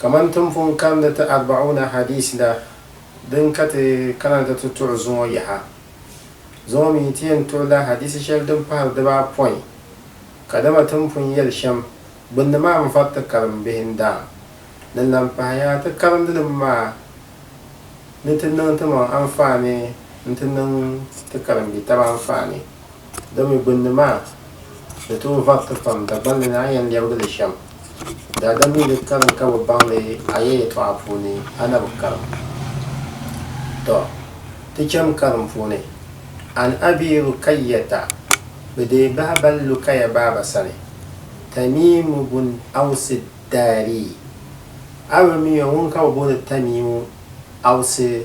Kamani ti ni pun kani ti Arba'una Hadiis la din ka ti kana ti ti tuɣi zuŋɔ yaha, zuŋɔ mi ti yɛn tuɣi la hadiisi shɛli din pahiri dibaapɔin, kadama ti ni pun yɛli shɛm gbinni maa m-vari ti karimbihi n-daa. Din lan pahaya, ti karindilim maa ni ti niŋ timaŋ anfaani nti niŋ ti karimbi'taba anfaani. Domi gbunni maa, di tooi variti pam, Dagbaŋ ni ni a yɛn lɛbigi li shɛm. Daadam mi di karim ka bi baŋ li a ya yɛtɔɣa puuni, a na bi karim. Tɔ! Ti cham karim puuni, An Abii Rukayyata, bɛ deei bahi bali Lukaya baaba sani, Tamiimu bun Awsi Daarii. A bi mi o ŋun ka bɛ booni Tamiimu Awsi?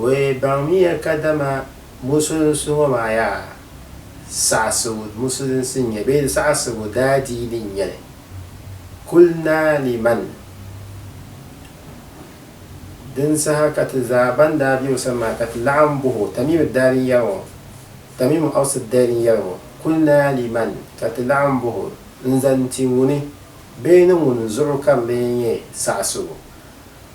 We baŋmiya kadama musulinsi ŋɔ maa yaa saɣisigu musulinsi n-nyɛ bee saɣisigu daadiini n-nyɛ li. Kulina liman din saha ka ti zaa ban daa be o sani maa ka ti laɣim bɔh o, Tamimu daadin yɛli ŋɔ, Tamimu Aus daadin yɛli ŋɔ, kulina liman ka ti laɣim bɔh o n-zani ti ŋuni bee ni ŋuni zuɣu ka bɛ lee nyɛ saɣisigu?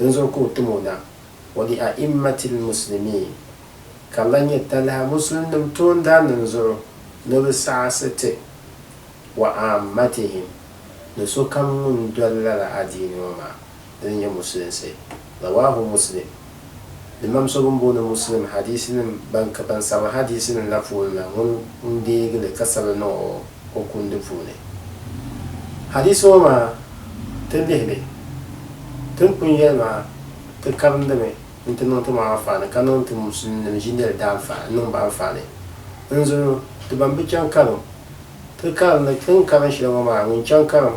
n-zo ka o tim o na, wa li a'immatil muslimiin, ka di lahi nyɛ talahi musulinnim toondaannim zuɣu ni bɛ saɣisi ti, wa aammatihim, ni sokam ŋun doli lala adiini ŋɔ maa, dini n-nyɛ musulinsi. Rawaahu Muslim. Imam so ŋun booni Muslim hadiisinim ban ka ban sabi hadiisinim la puuni la ŋun n deegi li ka sabi niŋ o o kundi puuni. Hadiisi ŋɔ maa ti lihi li, tin pun yɛli maa ti karindimi nti niŋ ti maŋa anfaani ka niŋ ti Muslimnim ʒinɛli daanfaani niŋ ba anfaani. N zuli o, ti ban bi chaŋ karim, ti karindi tin karin shɛli ŋɔ maa ŋun chaŋ karim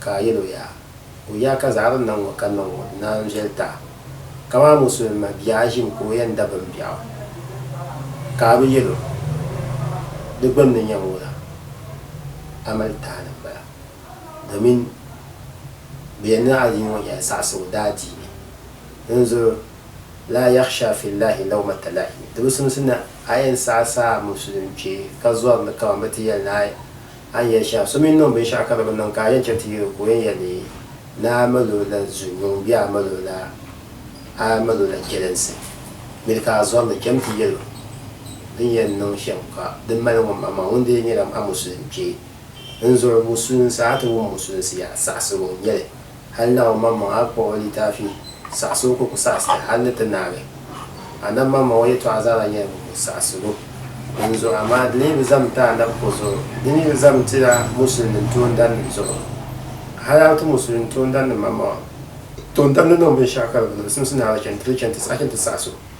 Ka a yɛl o yaa, O yaa ka zaɣ din na ŋɔ ka niŋ ŋɔ di naan viɛli taɣi kamani musulin ma bia a ʒim ka o yɛn dabim biɛɣu, ka a bi yɛl o di gbinni n-nyɛ ŋɔ la, a mali tahili m-bala. Domin bɛ yɛn ni adiini ŋɔ nyɛla saɣisigu daadiini. Dinzuɣu laa yaɣisha fi Llaahi lawmata laa'imi, di bi simsi ni a yɛn saɣisi a musulin kpee ka zɔri ni kaman bɛ ti yɛli ni a A ni yɛli shɛm, so mi niŋ binshɛɣu ka di bi niŋ ka a yɛn chɛ ti yɛl o ka o yɛn yɛli ni a mal o la zunyuŋ bee a mal o la a mal o la chɛlinsi, miri ka a zɔri ni cham ti yɛl o din yɛn niŋ shɛm ka di mali ŋun, amaa ŋun dee nyɛla a musulim kpee. N zuɣu musulinsi a ti wum musulinsi yaha saɣisigu n-nyɛ li. Hal na omaŋmaŋ a kpuɣ o litaafi saɣis o ka o ku saɣis li hal ni ti naai li. A nam maŋmaŋ o yɛtɔɣa zaa lahi nyɛla buku saɣisigu. Dinzuɣu amaa di lee bi zam ti a nab ko zuɣu. Di ni bi zam ti a musulinnim toondanim zuɣu. Hal a bi ti musulin toondanim maŋmaŋa, toondanim niŋ binshɛɣu ka di bi zimsi naai la chani ti ni chani ti saɣis o.